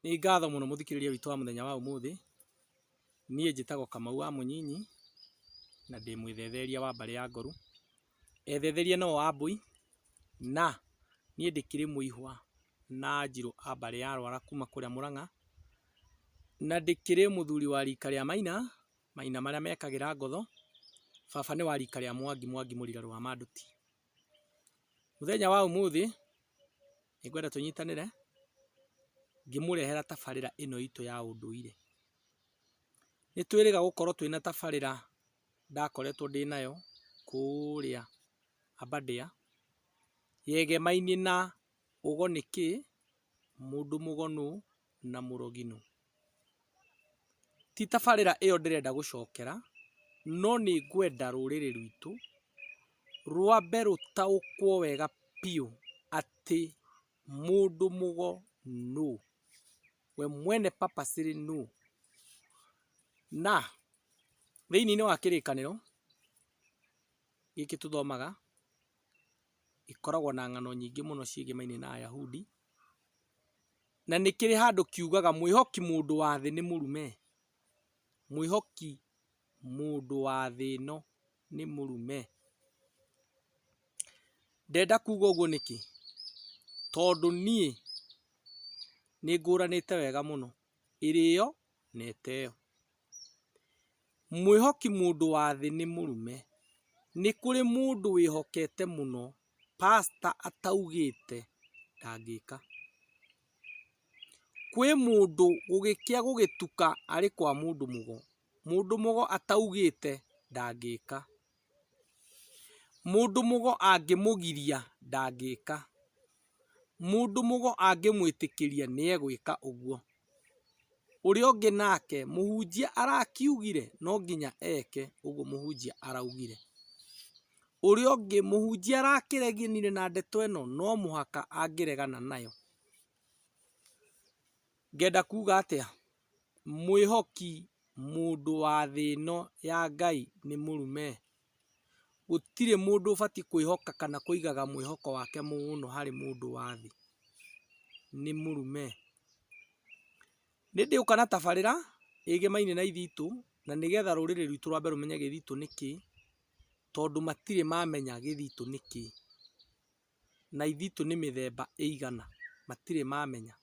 Nĩ ngatho mũno mũthikĩrĩria witũ wa mũthenya wa ũmũthĩ, niĩ njĩtagwo Kamau wa Mũnyinyi, na ndĩ mwĩthetheria wa mbarĩ ya Ngoru. Ethetheria nĩo Wambũi, na niĩ ndĩkĩrĩ mũihwa na Njirũ a mbarĩ ya Rwara kuma kũrĩa Mũrang'a, na ndĩkĩrĩ mũthuri wa rika rĩa Maina, Maina marĩa mekagĩra ngotho. Baba nĩ wa rika rĩa Mwangi, Mwangi mũrira rwa Manduti. Mũthenya wa ũmũthĩ nĩngwenda tũnyitanĩre ngĩmũrehera tabarĩra ĩno itũ ya ũndũire. Nĩtwĩrĩga gũkorwo twĩna tabarĩra ndakoretwo ndĩnayo kũrĩa Aberdare yegemainie na ũgo nĩ kĩĩ, mũndũ mũgo nũ? na mũrogino. Ti tabarĩra ĩyo ndĩrenda gũcokera, no nĩ ngwenda rũrĩrĩ rwitũ rwambe rũtaũkwo wega biũ atĩ mũndũ mũgo nũ, we mwene Papa Sĩrĩ nũ. Na thĩinĩ wa kĩrĩkanĩro gĩkĩ tũthomaga, gĩkoragwo na ng'ano nyingĩ mũno ciĩgĩmainie na Ayahudi, Na nĩ kĩrĩ handũ kiugaga, Mwĩhoki mũndũ wa thĩ nĩ mũrume? Mwĩhoki mũndũ wa thĩ ĩno nĩ mũrume? Ndenda kuuga ũguo nĩkĩ? Tondũ niĩ nĩ ngũranĩte wega mũno ĩrĩo na ĩteo. Mwĩhoki mũndũ wa thĩ nĩ mũrume. Nĩ kũrĩ mũndũ wĩhokete mũno pastor ataugĩte ndangĩka. Kwĩ mũndũ gũgĩkĩa gũgĩtuka arĩ kwa mũndũ mũgo, mũndũ mũgo ataugĩte ndangĩka. Mũndũ mũgo angĩmũgiria ndangĩka. mũndũ mũgo angĩmwĩtĩkĩria nĩegwĩka ũguo. Ũrĩa ũngĩ nake mũhunjia arakiugire no nginya eke ũguo mũhunjia araugire. Ũrĩa ũngĩ mũhunjia arakĩreganire na ndeto ĩno no mũhaka angĩregana nayo. Ngenda kuga atĩa? Mwĩhoki mũndũ wa thĩ ĩno ya Ngai nĩ mũrume. Gũtirĩ mũndũ ũbatiĩ kwĩhoka kana kũigaga mwĩhoko wake mũno harĩ mũndũ wa thĩ, nĩ mũrume. Nĩ ndĩũka na tabarĩra ĩgĩmaine na ithuĩ itũ na nĩgetha rũrĩrĩ rwitũ rwambe rũmenye gĩthitũ nĩ kĩĩ, tondũ matirĩ mamenya gĩthitũ nĩ kĩĩ. Na ithitũ nĩ mĩthemba ĩigana, matirĩ mamenya.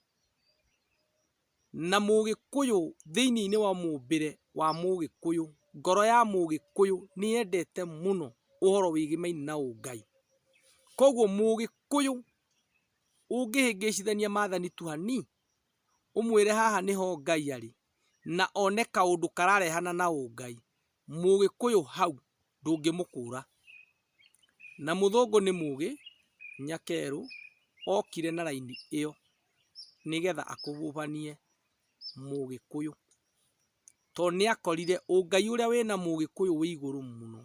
na mũgĩkũyũ thĩiniinĩ wa mũmbĩre wa mũgĩkũyũ, ngoro ya mũgĩkũyũ nĩyendete mũno ũhoro wĩgiĩ maini na ũngai. Koguo mũgĩkũyũ ũngĩhĩngĩcithania mathani tu hani, ũmwĩre haha nĩho Ngai arĩ, na one kaũndũ kararehana na ũngai. Mũgĩkũyũ hau ndũngĩmũkũra. Na mũthũngũ nĩ mũgĩ, nyakerũ okire na raini ĩyo nĩgetha akũbũbanie mũgĩkũyũ. Tondũ nĩ akorire ũngai ũrĩa wĩna mũgĩkũyũ wĩ igũrũ mũno.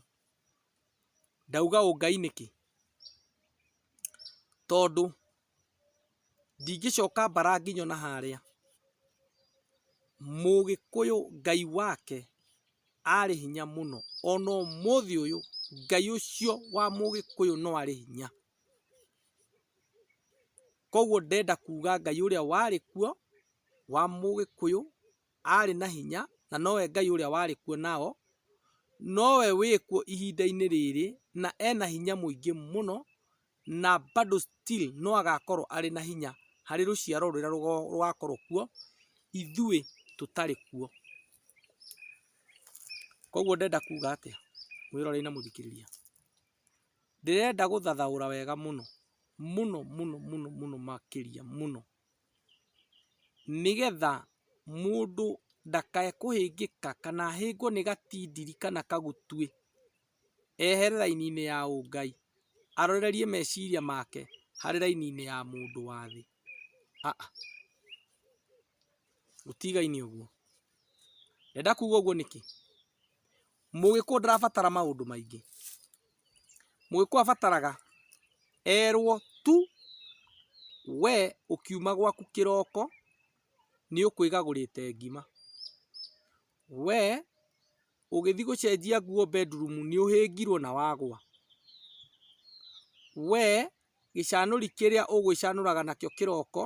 Ndauga ũngai nĩkĩ? Tondũ... Ndingĩcoka mbara nginye ona harĩa. Mũgĩkũyũ Ngai wake arĩ hinya mũno, ona ũmũthĩ ũyũ Ngai ũcio wa mũgĩkũyũ no arĩ hinya. Koguo ndĩrenda kuga Ngai ũrĩa warĩ kuo wa mũgĩkũyũ arĩ na hinya na nowe Ngai ũrĩa warĩ kuo nao, nowe wĩkuo ihinda-inĩ rĩrĩ na ena hinya mũingĩ mũno na bado still no agakorwo arĩ na hinya harĩ rũciaro rũrĩa rũgakorwo kuo ithuĩ tũtarĩ kuo. Koguo ndĩrenda kuga atĩa mwĩroreri na mũthikĩrĩria? Ndĩrenda gũthathaũra wega mũno mũno mũno mũno mũno makĩria mũno, nĩgetha mũndũ ndakae kũhĩngĩka kana ahĩngwo nĩ gatindiri kana kagutuĩ ehere raini-inĩ ya ũngai, arorerie meciria make harĩ raini-inĩ ya mũndũ wa thĩ, aa gũtigaine ũguo, ndenda kuga ũguo nĩkĩ, mũgĩkũyũ ndarabatara maũndũ maingĩ, mũgĩkũyũ abataraga erwo tu we ũkiuma gwaku kĩroko nĩ ũkwĩgagũrĩte ngima, we Ũgĩthiĩ gũcenjia nguo bedroom nĩ ũhĩngirwo na wagũa. We gĩcanũri kĩrĩa ũgwĩcanũraga nakĩo kĩroko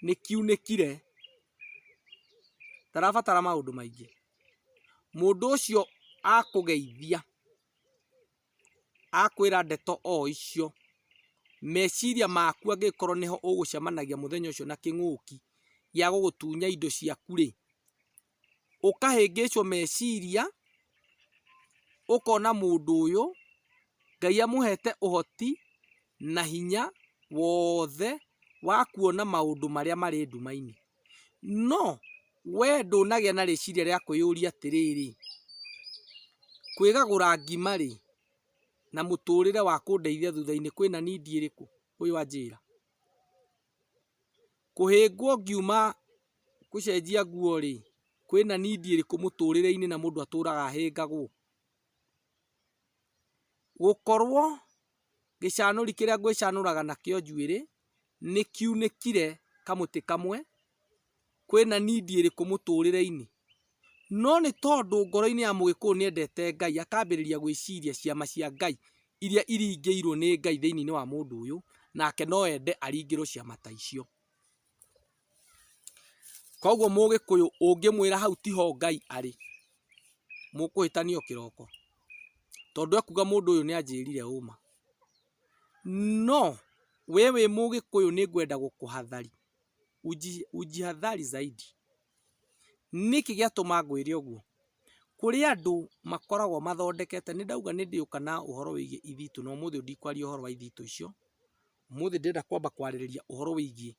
nĩ kiunĩkire. Ndarabatara maũndũ maingĩ. Mũndũ ũcio akũgeithia, akwĩra ndeto o icio, meciria maku angĩkorwo nĩho ũgũcemanagia mũthenya ũcio na kĩng'ũki gĩa gũgũtunya indo ciaku rĩ. ũkahĩngĩcwo meciria, ũkona mũndũ ũyũ, Ngai amũhete ũhoti na hinya wothe wa kuona maũndũ marĩa marĩ nduma-inĩ. No we ndũnagĩa na rĩciria rĩa kwĩyũria atĩrĩrĩ, kwĩgagũra ngima rĩ, na mũtũrĩre wa kũndeithia thutha-inĩ kwĩna need ĩrĩkũ? Ũyũ anjĩra. Kũhĩngwo ngiuma gũcenjia nguo rĩ, kwĩna need ĩrĩkũ mũtũrĩre-inĩ na mũndũ atũraga ahĩngagwo? Gũkorwo gĩcanũri kĩrĩa ngwĩcanũraga nakĩo njuĩrĩ nĩkiunĩkire kamũtĩ kamwe. kwĩna need ĩrĩkũ mũtũrĩre-inĩ? No nĩ tondũ ngoro-inĩ ya mũgĩkũyũ nĩ endete Ngai akambĩrĩria gwĩciria ciama cia Ngai iria iringĩirwo nĩ Ngai thĩinĩ wa mũndũ ũyũ nake no ende aringĩrwo ciama ta icio. Koguo mũgĩkũyũ ũngĩmwĩra hau tiho Ngai arĩ mũkũhĩtania o kĩroko tondũ ekuga mũndũ ũyũ nĩ anjĩrire ũma. No we wĩ mũgĩkũyũ nĩ ngwenda gũkũhatharia. ũjihadhari zaidi. Nĩkĩ gĩatũma ngwĩre ũguo? Kũrĩ andũ makoragwo mathondekete, nĩ ndauga nĩ ndĩũka na ũhoro wĩgiĩ ithitũ no ũmũthĩ ndikwaria ũhoro wa ithitũ icio, ũmũthĩ ndĩrenda kwamba kwarĩrĩria ũhoro wĩgiĩ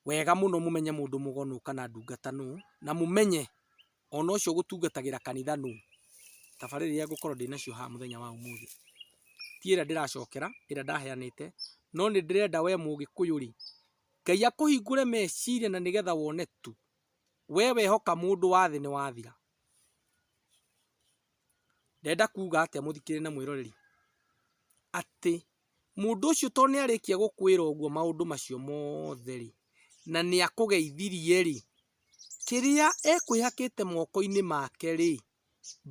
wega mũno mũmenye mũndũ mũgo nũ kana ndungata nũ na mũmenye... ona ũcio ũgũtungatagĩra kanitha nũ? Tabarĩra iria ngũkorwo ndĩnacio haha mũthenya wa ũmũthĩ, ti ĩrĩa ndĩracokera, ĩrĩa ndaheanĩte, no nĩ ndĩrenda we mũgĩkũyũ rĩ, Ngai akũhingũre meciria na nĩgetha wone tu, we wehoka mũndũ wa thĩ nĩ wathira. Ndĩrenda kuga atĩa mũthikĩrĩria na mwĩroreri? Atĩ mũndũ ũcio to nĩ arĩkia gũkwĩra ũguo maũndũ macio mothe rĩ, na nĩ akũgeithirie rĩ, Kĩrĩa ekwĩhakĩte moko-inĩ make rĩ,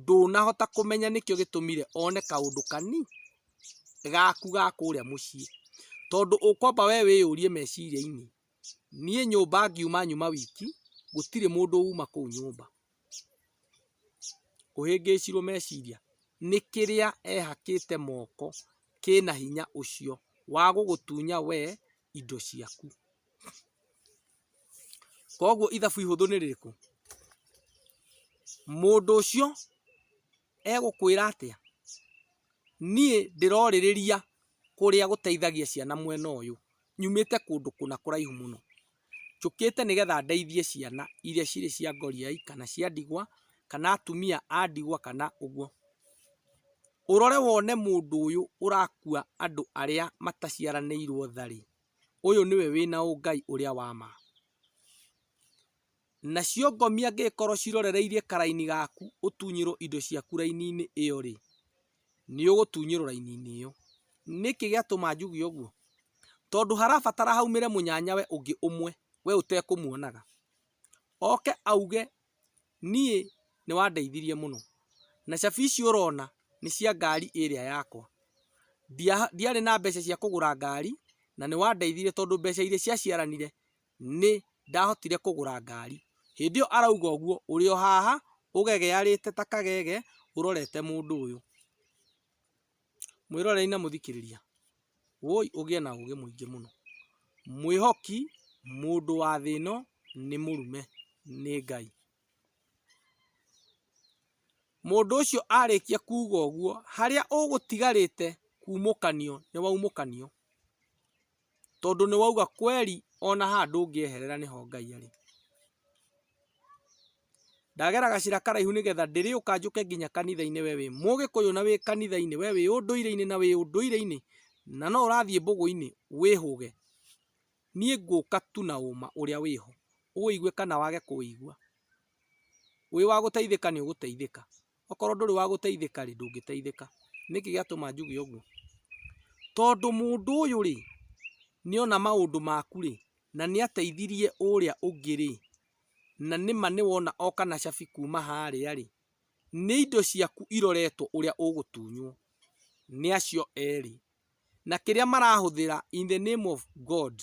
ndũnahota kũmenya nĩkĩo gĩtũmire one kaũndũ kani, gaku ga kũrĩa mũciĩ. Tondũ ũkwamba we wĩyũrie meciria-inĩ, niĩ nyũmba ngiuma nyuma wiki, gũtirĩ mũndũ uma kũu nyũmba. Ũhĩngĩcirwo meciria, nĩ kĩrĩa ehakĩte moko kĩna hinya ũcio wa gũgũtunya we indo ciaku. Koguo ithabu ihũthũ nĩ rĩrĩkũ? Mũndũ ũcio egũkwĩra atĩa? Niĩ ndĩrorĩrĩria kũrĩa gũteithagia ciana mwena ũyũ, nyumĩte kũndũ kũna kũraihu mũno. Njũkĩte nĩgetha ndeithie ciana iria cirĩ cia ngoriai kana cia ndigwa, kana atumia a ndigwa kana ũguo. Ũrore wone mũndũ ũyũ ũrakua andũ arĩa mataciaranĩirwo tha-rĩ. ũyũ nĩwe wĩna ũngai ũrĩa wa ma. Nacio ngomi angĩgĩkorwo cirorereirie karaini gaku ũtunyĩrwo indo ciaku raini-inĩ ĩyo-rĩ, nĩ ũgũtunyĩrwo raini-inĩ ĩyo. Nĩkĩ gĩatũma njuge ũguo? Tondũ harabatara haumĩre mũnyanyawe ũngĩ ũmwe we ũtekũmuonaga, oke auge Niĩ nĩ wandeithirie mũno, na cabi ici ũrona nĩ cia ngari ĩrĩa yakwa. Ndiarĩ na mbeca cia kũgũra ngari na nĩ wandeithirie tondũ mbeca iria cia ciaranire nĩ ndahotire kũgũra ngari. Hĩndĩ ĩyo arauga ũguo ũrĩ o haha ũgegearĩte ta kagege ũrorete mũndũ ũyũ. Mwĩroreri na mũthikĩrĩria, woi ũgĩe na ũgĩ mũingĩ mũno. Mwĩhoki, mũndũ wa thĩ ĩno nĩ mũrume, nĩ Ngai. Mũndũ ũcio arĩkia kuuga ũguo, harĩa ũgũtigarĩte kuumũkanio nĩ waumũkanio. Tondũ nĩ wauga kweli ona haha ndũngĩeherera nĩho Ngai arĩ. Ndagera gacĩra karaihu nĩgetha ndĩrĩũka njũke nginya kanitha-inĩ we wĩ mũgĩkũyũ na wĩ kanitha-inĩ, we wĩ ũndũire-inĩ na wĩ ũndũire-inĩ, na no ũrathiĩ mbũgũ-inĩ wĩhũge. Niĩ ngũka tu na ũma ũrĩa wĩho, ũwĩigue kana wage kũwĩigua. Wĩ wa gũteithĩka nĩ ũgũteithĩka. Okorwo ndũrĩ wa gũteithĩka rĩ, ndũngĩteithĩka. Nĩkĩ gĩatũma njuge ũguo? Tondũ mũndũ ũyũ rĩ, nĩ ona maũndũ maku rĩ, na nĩ ateithirie ũrĩa ũngĩ rĩ, na nĩ ma nĩ wona oka na cabi kuuma harĩa rĩ, nĩ indo ciaku iroretwo ũrĩa ũgũtunywo nĩ acio erĩ. Na kĩrĩa marahũthĩra in the name of God,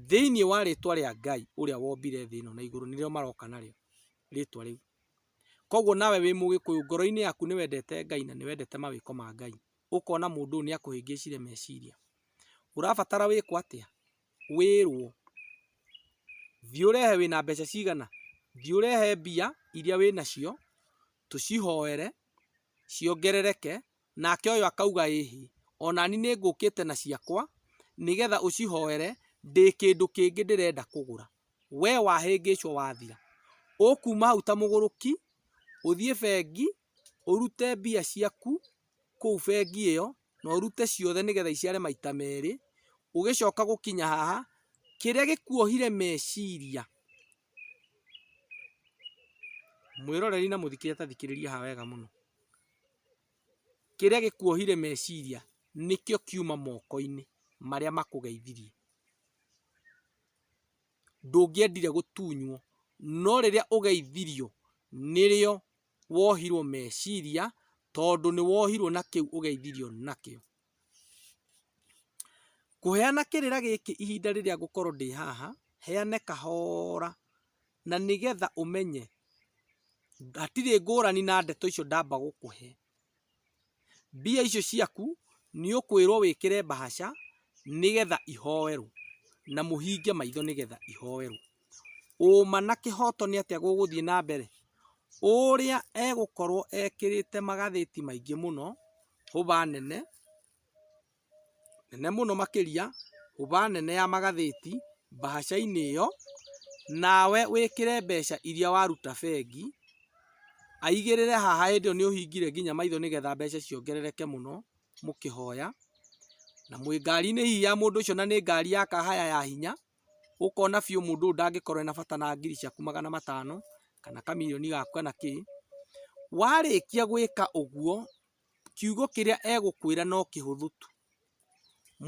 thĩinĩ wa rĩtwa rĩa Ngai ũrĩa wombire thĩ ĩno na igũrũ nĩrĩo maroka narĩo, rĩtwa rĩu. Koguo nawe wĩ mũgĩkũyũ ngoro-inĩ yaku nĩ wendete Ngai na nĩ wendete mawĩko ma Ngai, ũkona mũndũ ũyũ nĩ akũhĩngĩcire meciria, ũrabatara wĩkwo atĩa? Wĩrwo, thiĩ ũrehe wĩna mbeca cigana? Thiĩ ũrehe mbia iria wĩnacio, tũcihoere, ciongerereke, Nake ũyũ akauga, Ĩhi, o na niĩ nĩngũkĩte na ciakwa nĩ getha ũcihoere, ndĩ kĩndũ kĩngĩ ndĩrenda kũgũra. Wee wahĩngĩcwo wathira, ũkuuma hau ta mũgũrũki, ũthiĩ bengi, ũrute mbia ciaku kũu bengi ĩyo, na ũrute ciothe nĩ getha iciare maita merĩ, ũgĩcoka gũkinya haha, kĩrĩa gĩkuohire meciria, mwĩroreri na mũthikĩria ta thikĩrĩria haha wega mũno, Kĩrĩa gĩkuohire meciria nĩkĩo kiuma moko-inĩ marĩa makũgeithirie. Ndũngĩendire gũtunywo, no rĩrĩa ũgeithirio nĩrĩo wohirwo meciria tondũ nĩwohirwo na kĩu ũgeithirio nakĩo. Kũheana kĩrĩra gĩkĩ ihinda rĩrĩa ngũkorwo ndĩ haha, heane kahora na nĩgetha ũmenye hatirĩ ngũrani na ndeto icio ndamba gũkũhe. Mbia icio ciaku nĩ ũkwĩrwo wĩkĩre mbahaca nĩgetha ihoerwo na mũhinge maitho nĩgetha ihoerwo. ũũma na kĩhooto nĩ atĩa gũgũthiĩ na mbere? Ũrĩa egũkorwo ekĩrĩte magathĩti maingĩ mũno, hũba nene, nene mũno makĩria, hũba nene ya magathĩti mbahaca-inĩ ĩyo, nawe wĩkĩre mbeca iria waruta bengi, aigĩrĩre haha hĩndĩ ĩyo nĩ ũhingire nginya maitho nĩ getha mbeca ciongerereke mũno mũkĩhoya, na mwĩ ngari-inĩ hihi ya mũndũ ũcio na nĩ ngari ya kahaya ya hinya. ũkona biũ mũndũ ũyũ ndangĩkorwo ena bata na ngiri ciaku magana matano, kana kamirioni gaku kana kĩ, warĩkia gwĩka ũguo, kiugo kĩrĩa egũkwĩra no kĩhũthũ tu,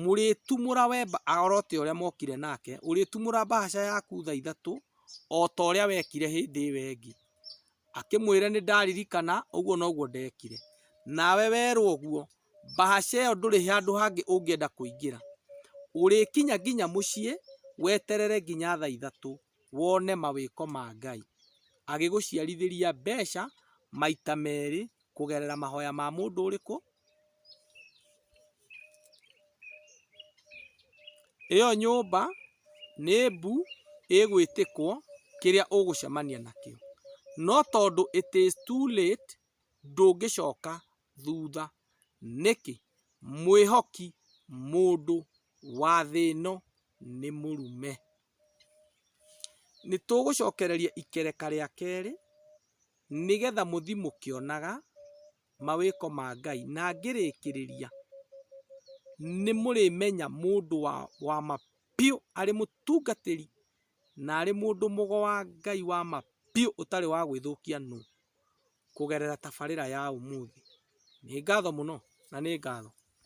mũrĩtumũra we oro ta ũrĩa mwokire nake, ũrĩtumũra mbahaca yaku thaa ithatũ, o ta ũrĩa wekire hĩndĩ ĩyo ĩngĩ. Akĩmwĩra nĩ ndaririkana ũguo noguo ndekire. Nawe werwo ũguo. Bahasha ĩyo ndũrĩ handũ hangĩ ũngĩenda kũingĩra. Ũrĩkinya nginya mũciĩ weterere nginya thaa ithatũ wone mawĩko ma Ngai. Agĩgũciarithĩria mbeca maita merĩ kũgerera mahoya ma mũndũ ũrĩkũ? Ĩyo nyũmba nĩ mbu ĩgwĩtĩkwo kĩrĩa ũgũcemania nakĩo. No tondũ it is too late ndũngĩcoka thutha. Nĩkĩ? Mwĩhoki mũndũ wa thĩ ĩno nĩ mũrume. Nĩtũgũcokereria ikereka rĩa kerĩ nĩgetha mũthiĩ mũkĩonaga mawĩko ma Ngai na ngĩrĩkĩrĩria, nĩmũrĩmenya mũndũ wa ma biũ arĩ mũtungatĩri na arĩ mũndũ mũgo wa Ngai wa ma biũ ũtarĩ wa gwĩthũkia nũ? Kũgerera tabarĩra ya ũmũthĩ. Nĩ ngatho mũno na nĩ ngatho.